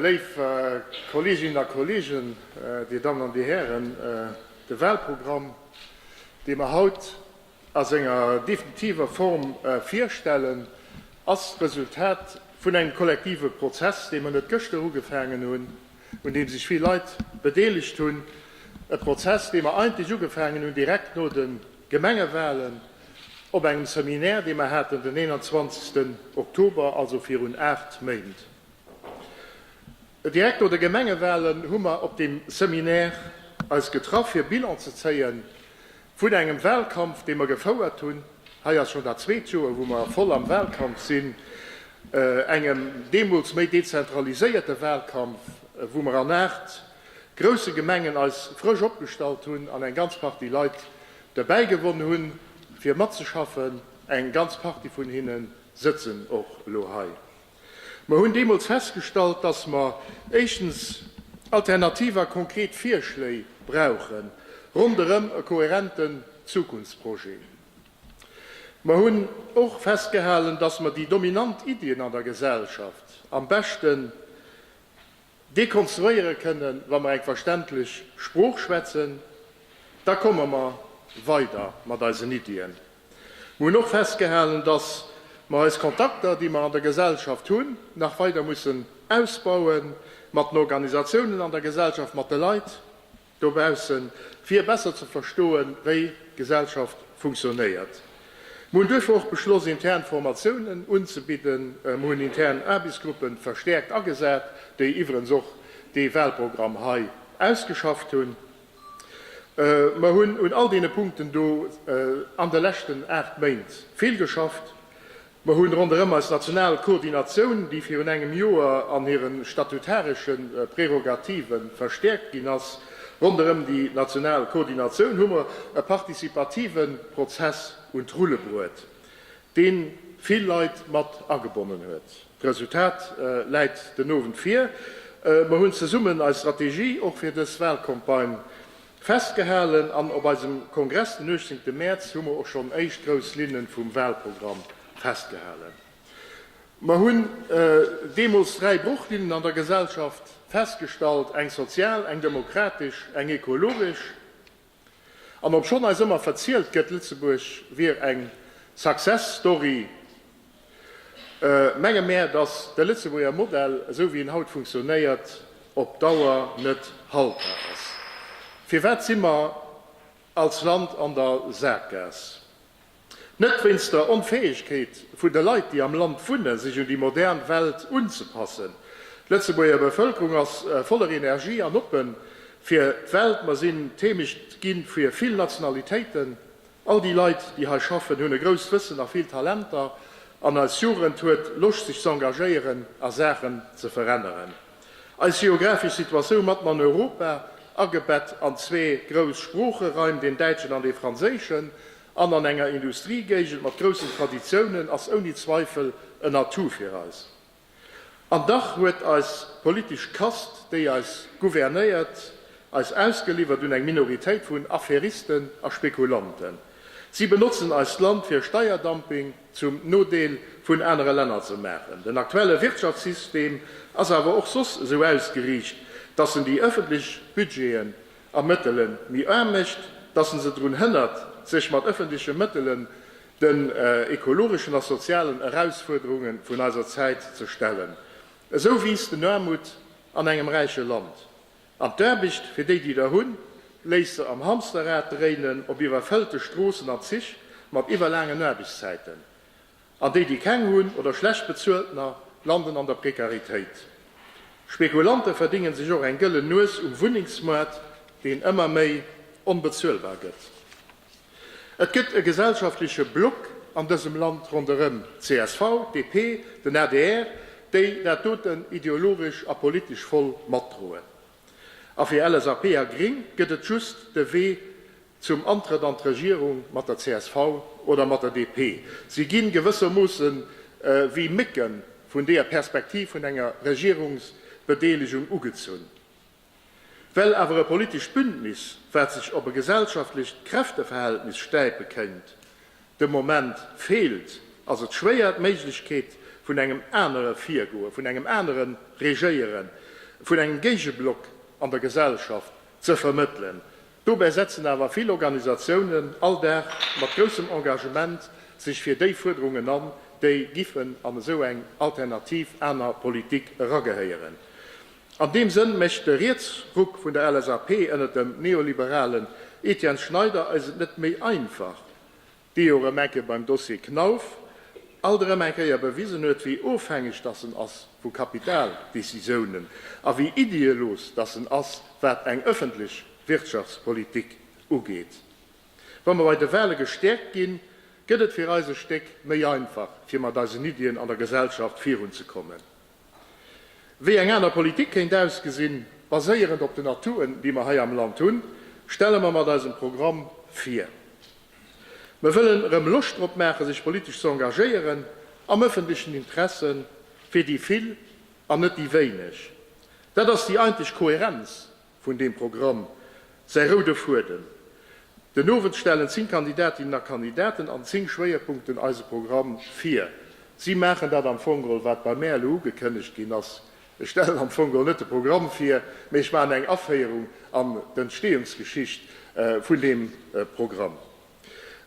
Léif Kolleeginnen a Kolleegen, Dir Dammen an Dir Hären, de Wahlprogramm, dee mer haut a senger definitiver Form virstellen, ass d'Resultat vun engem kollektive Prozess, dee mer net gëschter ugefaangen hunn, un deem sech vill Leit bedeelegt hunn, e Prozess, dee mer eigentlech ugefaangen hunn direkt no de Gemengewalen op engem Seminaire, dee mer haten den 21 Oktober, also virun aacht Méint. Direkt no de Gemengewalen hu mer op deem Seminaire eis getraff, fir Bilan ze zéie vun engem Walkampf, dee mer gefouert hunn, hei ass schonn dat zweet Joer, wou mer voll am Walkampf sinn, engem deemools méi dezentraliséierte Walkampf, wou mer an aacht grousse Gemengen eis frësch opgestallt hunn an eng ganz Partie Leit derbäi gewonn hunn, fir matzeschaffen. Eng ganz Partie vun hinne sëtzen och elo hei. Mer hunn deemools festgestallt, dass mer éischtens alternativ a konkret Virschléi brauche ronderëm e kohärenten Zukunftsprojet. Mer hunn och festgehalen, dass mer déi dominant Iddien an der Gesellschaft am beschte dekonstruéiere kënnen, wa mer eng verständlech Sprooch schwätzen, da komme mer weider mat eisen Iddien. Mer hunn och festgehalen, dass mer eis Kontakter, déi mer an der Gesellschaft hunn, nach weider mussen ausbauen, mat den Organisatiounen an der Gesellschaft, mat de Leit. Dobaussen, fir besser ze verstoen, wéi d'Gesellschaft funktionéiert. Mir hunn duerfir och beschloss, intern Formatiounen unzebidden. Mir hunn intern Aarbechtsgruppe verstäerkt agesat, déi iwwerens och dee Wahlprogramm hei ausgeschafft hunn. Mir hunn un all deene Punkten do an de leschten aacht Méint vill geschafft. Mer hunn ronderëm eis national Koordinatioun, déi virun engem Joer an hiren statutaresche Prérogativen verstäerkt ginn ass, ronderëm déi national Koordinatioun hu mer e partizipativen Prozess un d'Rulle bruet, deen vill Leit mat agebonnen huet. D'Resultat läit den Owend vir. Mer hunn zesummen eis Strategie och fir dës Wahlcampagne Festgehalen an op eisem Kongress den 18 Mäerz hu mer och schonn éischt grouss Linne vum Wahlprogramm festgehalen. Mer hunn deemools dräi Bruchlinnen an der Gesellschaft festgestallt, eng sozial, eng demokratesch, eng ekologesch. An obschonn eis ëmmer verzielt gëtt, Lëtzebuerg wier eng Success Story, Menge mär, dass de Lëtzebuerger Modell, esou wéi en haut funktionéiert, op Dauer net haltbar ass. Firwat si mer als Land an der Saakgaass? Net wéinst der Onfäegkeet vun de Leit, déi am Land wunnen, sech un déi modern Welt unzepassen. D'Lëtzebuerger Bevëlkerung ass voller Energie an oppe fir d'Welt. Mer sinn d'Heemecht gi fir vill Nationalitéiten, All déi Leit, déi hei schaffen, hunn e grousst Wëssen a vill Talenter, an eis Jugend huet Loscht sech ze engagéieren a Saachen ze veränneren. Eis geographesch Situatioun matten an Europa, agebett an zwee grouss Sproocheraim, deen däitschen an dee franséischen, an an enger Industriegéigend mat groussen Traditiounen, ass ouni Zweifel en Atout fir eis. An dach huet eis politesch Kast, déi eis gouvernéiert, eis ausgeliwwert un eng Minoritéit vun Affäristen a Spekulanten. Si benotzen eist Land fir Steierdumping zum Nodeel vun anere Länner ze maachen. Den aktuelle Wirtschaftssystem ass awer och soss esou ausgeriicht, datt en déi ëffentlech Budgeten a Mëttele méi aarm mécht, datt en se drun hënnert, sech mat ëffentleche Mëttele den ekologeschen a sozialen Erausfuerderunge vun eiser Zäit ze stellen, esou wiisst den Aarmut an engem räiche Land. An d'Aarbecht, fir déi déi der hunn, léisst se am Hamsterrad dréinen, op iwwerfëllte Stroossen, an Zich mat iwwerlaangen Aarbechtszäiten, an déi déi keng hunn, oder schlecht bezueltener, landen an der Prekaritéit. Spekulanten verdéngen sech och eng gëllen Nues um Wunnengsmoart, deen ëmmer méi onbezuelbar gëtt. Et gëtt e gesellschaftleche Block an dësem Land ronderëm csv, DP, den adr, déi dat doten ideologesch a politesch voll matdroen. A fir LSAP a Gring gëtt et just de Wee zum Antrëtt an d'Regierung mat der csv oder mat der DP. Si ginn gewëssermoosse wéi Mécken vun deeër Perspektiv vun enger Regierungsbedeelegung ugezunn. Well awer e politescht Bündnis, wat sech op e gesellschaftlecht Kräfteverhältnis stäipe kéint, de Moment feelt, ass et schwéier d'Méiglechkeet vun engem anere Virgoe, vun engem anere Regéieren, vun engem Géigeblock an der Gesellschaft ze vermëttelen. Dobäi setzen awer vill Organisatiounen all Dag mat groussem Engagement sech fir déi Fuerderungen an, déi giffen an esou eng alternativ aner Politik eragehéieren. An deem Sënn mécht de Rietsruck vun der LSAP ënner dem neoliberalen Etienne Schneider eis et net méi einfach, dee jo erëm eng Kéier beim Dossier Knauf alt erëm eng Kéier bewisen huet, wéi ofhängeg datt en ass vu Kapitaldecisiounen a wéi iddeelos datt en ass, wat eng ëffentlech Wirtschaftspolitik ugeet. Wa mer bei de Wale gestäerkt ginn, gëtt et fir eis e Stéck méi einfach, fir mat eisen Iddien an der Gesellschaft virunzekommen. Wéi eng aner Politik kéint ausgesinn, baséierend op den Atouten, déi mer hei am Land hunn, stelle mer mat eisem Programm vir. Mer wëllen erëm Loscht drop maachen, sech politesch ze engagéieren, am ëffentlechen Interesse fir déi Vill an net déi Wéineg. Dat ass déi einteg Kohärenz, vun deem Programm säi roude Fuedem. Den Owend stellen 10 Kandidatinnen a Kandidaten an 10 Schwéierpunkten eise Programm vir. Si maachen dat am Fong geholl, wat bei mär elo ugekënnegt ginn ass. Ech stellen am Fong geholl net de Programm vir, mee ech maachen eng Aféierung an d'Entstehungsgeschicht vun deem Programm.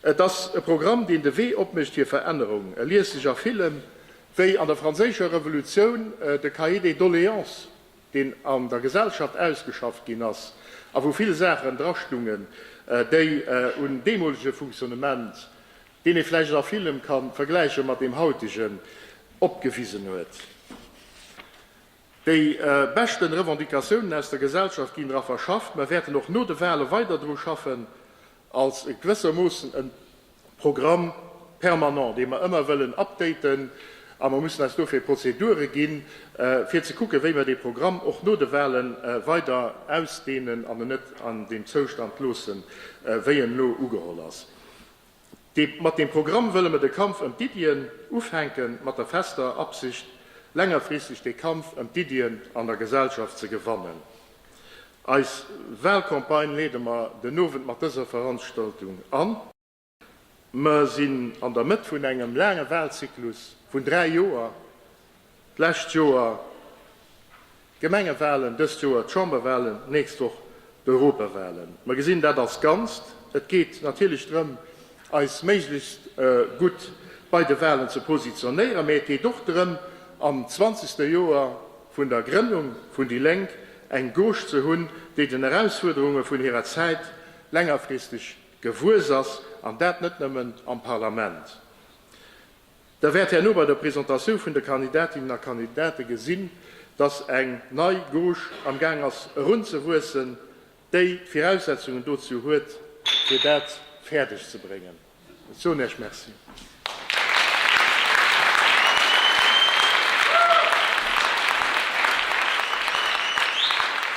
Et ass e Programm, deen de Wee opmécht fir Verännerung. E liest sech a villem wéi an der Franséischer Revolutioun de Cahier des Doléances. deen an der Gesellschaft ausgeschafft ginn ass a wou vill Saachen drastungen, déi un deemolege Funktionnement, deen ee vläicht a villem ka vergläiche mat deem hautegen, opgewisen huet. Déi beschte Revendicatiounen aus der Gesellschaft ginn dra verschafft. Mer wäerten och no de Wale weider dru schaffen, als gewëssermoossen en Programme permanent, dee mer ëmmer wëllen updaten, a mer mussen eis dofir Prozedure ginn, fir ze kucken, wéi mer dee Programm och no de Wahle weider ausdehnen an en net an deem Zoustand loossen, wéi en elo ugeholl ass. Mat deem Programm wëlle mer de Kampf ëm d'Iddien ufänken, mat der fester Absicht, längerfristeg dee Kampf ëm d'Iddien an der Gesellschaft ze gewannen. Eis Wahlcampagne leede mer den Owend mat dëser Veranstaltung an. Mer sinn an der Mëtt vun engem laange Wahlzyklus vun 3 Joer, d'lescht Joer d'Gemengewahlen, dëst Joer d'Chamberwahlen, d'nächst Woch d'Europawahlen. Mer gesinn dat als Ganzt. Et geet natierlech drëm, eis méiglechst gutt bei de Wahlen ze positionéieren, mä et geet och drëm, am zwanzegste Joer, vun der Grënnung vun déi Lénk eng Gauche ze hunn, déi den Erausfuerderunge vun hirer Zäit längerfristeg gewuess ass, an dat net nëmmen am Parlament. Der wäert herno bei der Presentatioun vun de Kandidatinnen a Kandidate gesinn, dass eng nei Gauche amgaang ass erunzewuessen. déi d'Viraussetzungen dozou huet, fir dat fäerdeg ze bréngen. Ech soen Iech Merci.